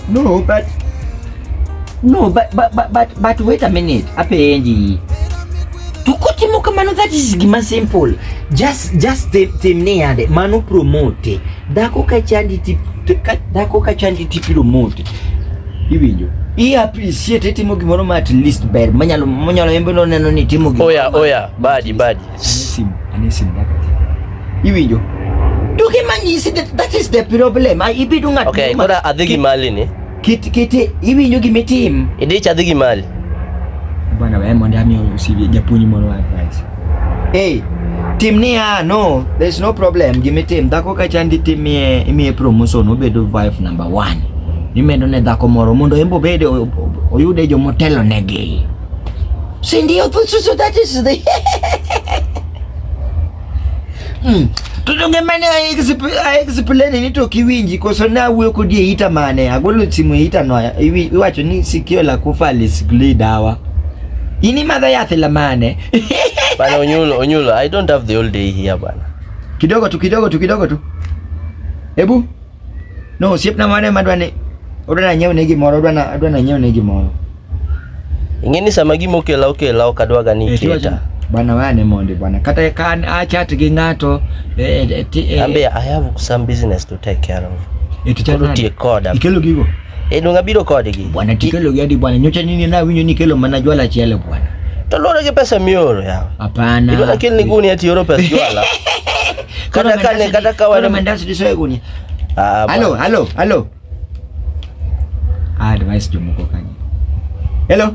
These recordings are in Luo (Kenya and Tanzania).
No, but no, but but but but, but wait a minute. Apendi. Tukutimo kamano that is gima simple. Just just the the neade manu promote. Dako ka chandi tip dako ka chandi tip promote. Iwinjo. I appreciate timo gimoro ma at least ber manyalo manyalo yembe no neno ni timo gimoro. Oya oya, badi badi. Anisim, anisim dakati. Iwinjo? To gima nyisi that, that is the problem. Ai ibidu ng'at. Okay, muma- kora adhi gi ki- mali ni. Kit kit iwinjo gima itim. Idich adhi gi mali. Bwana wewe mondo ami usibi japuonj moro wa advice. Hey, tim ni ah no, there's no problem. Gima itim dhako ka chandi tim ye imiye promotion obedo wife number one. Imedo ne dhako moro mondo embo bede oyude jomotelo negi. si ndio? Sisi tatisidi hmm. tutongemane aexplane ni to kiwinji koso na wuyo kodi eita mane agolo simu eita noya iwacho ni sikio la kufa alisikli dawa ini madha yath la mane bana onyulo onyulo i don't have the whole day here bana kidogo tu kidogo tu kidogo tu hebu No, osiepna mane ma dwani odwa nanyiew ne gimoro, odwa na odwa nanyiew ne gimoro. Ing'e ni sama gima okela okela ok adwaga ni Eh, tiwacho- iketa. Bwana wewe ni mondi bwana. Kata kan achat gi ng'ato eh, eh, ti- eh, Ambe I have some business to take care of. eh, tuchat Koro nade? tiek koda. Ikelo gigo. E donga biro kodgi. Bwana tikelo gi adi bwana nyocha nini na winyo ni kelo mana jwala achiel bwana. To lore gi pesa mioro ya. Hapana. Ibona kel ni guni ati oro pesa jwala. Kata kane kata kawana mandasi disoe guni. Ah. Halo, halo, halo. Ah, device jomoko kanye. Hello.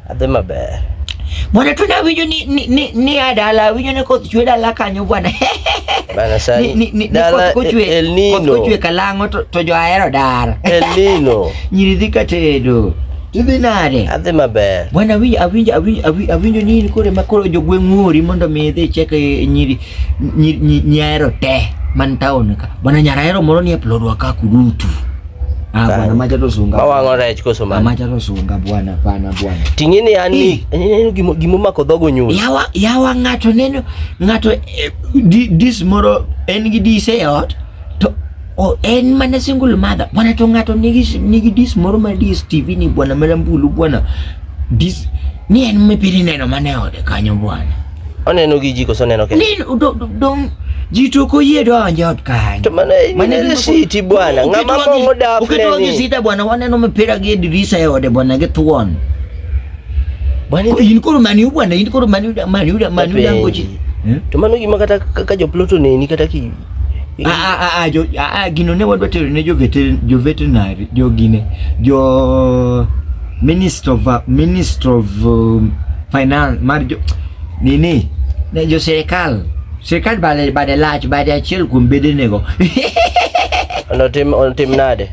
Adhi maber. Bwana tu nawinjo ni ni ni, ni adala winjo ni koth chwe dala kanyo bwana. Bana sani. Ni ni dala koth chwe. El Nino. Koth chwe kalango to, to jo ahero dar. El Nino. Nyiri dhi katedo. Idhi nade? Adhi maber. Bwana winjo awinjo awinjo awinjo ni kore ma koro jo gweng' ng'ori mondo mi idhi cheke eh, nyiri nyiri nyahero te man town ka. Bwana nyarahero moro ni e plodwa ka kudutu. Ah, bwana macha to sunga. Ba wango rech koso man. Macha to sunga bwana bwana bwana. Tingine yani neno gimo gimo mako dhogo nyulo. Yawa yawa ngato neno ngato eh, this moro en gi dise e ot to o en mana single mother. Bwana to ngato nigi nigi dis moro ma dis TV ni bwana mara mbulu bwana. Dis ni en mipiri neno mane ode kanyo bwana. Oneno gi ji koso oneno kende? Ni do- do- dong ji to ok oyie donjo e od kanyo. To mano e- Mano e nene gima- siti bwana, Oketo ng'ama wang'i- mong'o dafne oketo wang'i ni. sita bwana, waneno mipira gi e dirisa e ode bwana gi thuon. Bwana Ko- In koro maniu bwana, in koro maniu da- maniu da- maniu Wapenji. dangoji. Hmm? to mano gima kata ka- ka joploto neni kata ki Ah, ah, ah, ah, jo, ah, ah, gino ne wadwa tero ne jo veter- jo veterinary jo gine jo minister of uh, minister of um, finance mar jo nini ne jo sirikal sirikal bade bade lach bade achiel kuom bedenego Onotim onotim nade?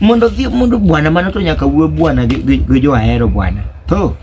mondo dhi mondo bwana mano to nyaka wuo bwana gi, gi, gi jo ahero bwana to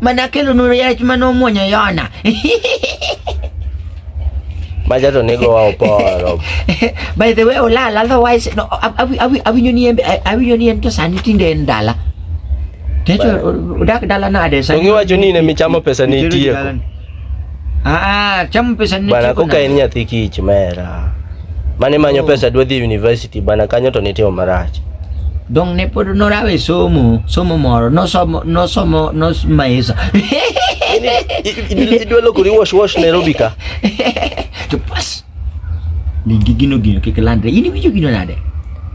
Mana kelo nuru yach mane omwonyo Yona. Maja to nego wa oporo. By the way, olal, otherwise, no, awi- awi- awinjo ni en- awinjo ni en to sani tinde en dala. Techo odak dala nade To sani? giwacho ni in ema ichamo pesa ni Nitiere itieko. dalani. Ah, cham pesa ni bana koka en nyathi kich mera. Mane manyo oh. pesa dwa dhi university bana kanyo to nitimo marach. Dong ne pod norawe somo, somo moro, nosomo nosomo nosmaisa. Idwa lokori wash wash Nairobi ka. To pas. Ni gigino gino kik landre. In iwinjo gino nade?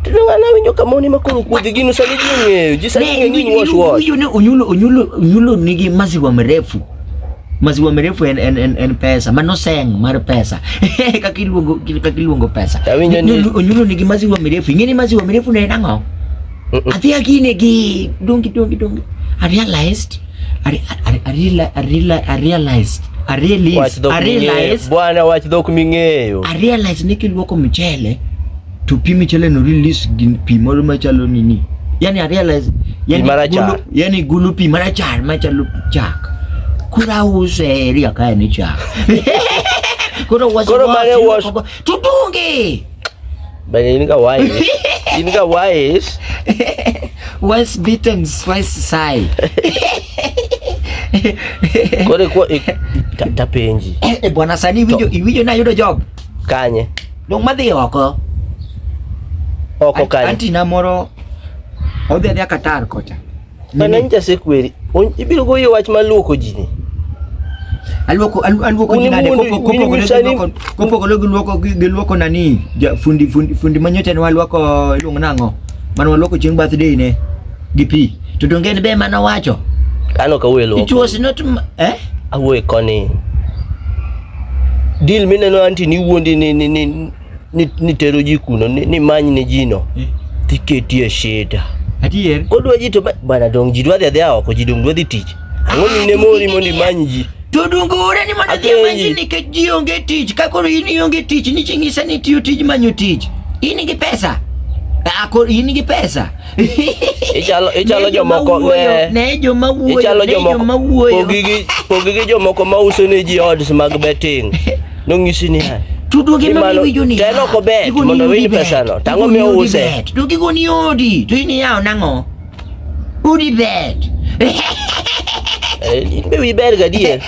To an awinjo kama oni makoro kuodhi gino sani ji ong'eyo. Ji sani ong'eyo ni wash wash. Iwinjo ne onyulo onyulo onyulo nigi maziwa mrefu. Maziwa mrefu en en en, en pesa. Mano seng mar pesa. Kaka iluongo kaka iluongo pesa. Awinjo ni onyulo nigi maziwa mrefu. Ing'eni maziwa mrefu ne en ang'o? Adhi agine gi dongi dongi dongi. I realized I, I, I, I, reali- I, reali- I realized I Wach realized dhok I ming'eyo. realized Bwana wach dhok ming'eyo. I realized ni kiluoko mchele to pi mchele no release gin pi moro machalo nini yani I realized yani marachar. gulu, yani gulu pi marachar machalo chak kura use ria kae ni chak koro was Koro mane was- tutunge But you nigga why? you nigga why? Once bitten, twice shy. Kore kwa eh, ta- tapenji. Eh, eh, bwana sani iwinjo iwinjo na yudo job. Kanye. Dong madhi oko. Oko kanye. Anti na moro odhi adhi akatar kocha. An an jasekweri. On- Ibiro goyi wach mar luoko ji ni. Aluoko alu- aluoko Uni jinade mundi- kopo- uni kopogore gi misani- luoko kopogore gi luoko gi gi luoko nani ja- fundi fundi fundi manyocha ne waluoko iluongo nang'o mane waluoko chieng' birthday ne gi pi to donge en be mane owacho An ok awuoyo luoko. it was not m- eh Awuoyo koni. Deal mineno anti ni wuondi ni ni ni ni, ni tero ji kuno ni, ni many ne jino eh. tiketie shida adier kodwa ji to bana dong ji dwa dhi adhiya oko ji dong dwa dhi tich ang'o ni ne mori mondo imany ji to dungure ni mondo dhi manyi nikech ji onge tich ka koro in ionge tich ni ching'isa ni tiyo tij manyo tich in gi pesa akor in gi pesa ichalo ichalo jomoko ne joma wuoyo ichalo jomoko wuoyo pogigi pogigi jomoko ma uso ne ji odds mag betting nongisi ni hai tuduoge gi mano iwinjo ni telo ko bet mondo winy pesa no tango mi use to gi goni odi to ini yao nango udi bet eh, in be wi ber gadier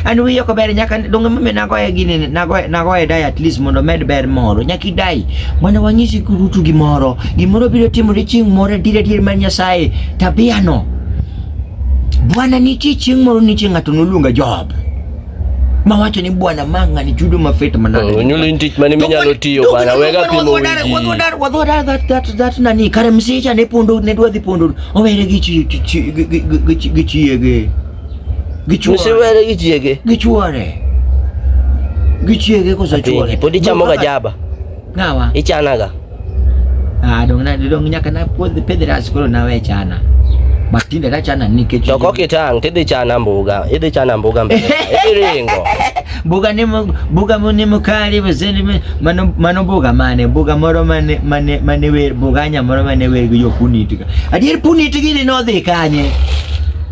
an wiya ok ber nyaka donge mame nagoye gini nagoye nagoye dai at least mondo med ber moro nyaka idai mondo wanyisi kurutu gimoro gimoro biro timore chieng' moro dire dire mar Nyasaye tabia no Bwana nitie chieng' moro nitie ng'ato noluonga Job mawacho ni bwana manga ni chudo mafet manade oh, nyulo in tich mane minyalo tiyo bwana wega pimo wiji wadhodar wadhodar that that that nani kare msicha ne pondo ne dwadhi pondo owere gi chi gi chi gi chi gi Gichuore. Msiwele gichiege. Gichuore. Gichiege kosa chuore. Podi chamo ga jaba. Ngawa. Ichana ga. Ah, dong na dong nyaka na pod pedhi ras koro na we chana. But tinde na chana nikech. To kok itang tidhi chana mbuga. Idhi chana mbuga mbele. Idhi ringo. Mbuga ni mbuga mo ni mukali wazeni mano mano mbuga mane mbuga moro mane mane mane we mbuga nya moro mane we yo punitika. Adier punitika ni no dhi kanye.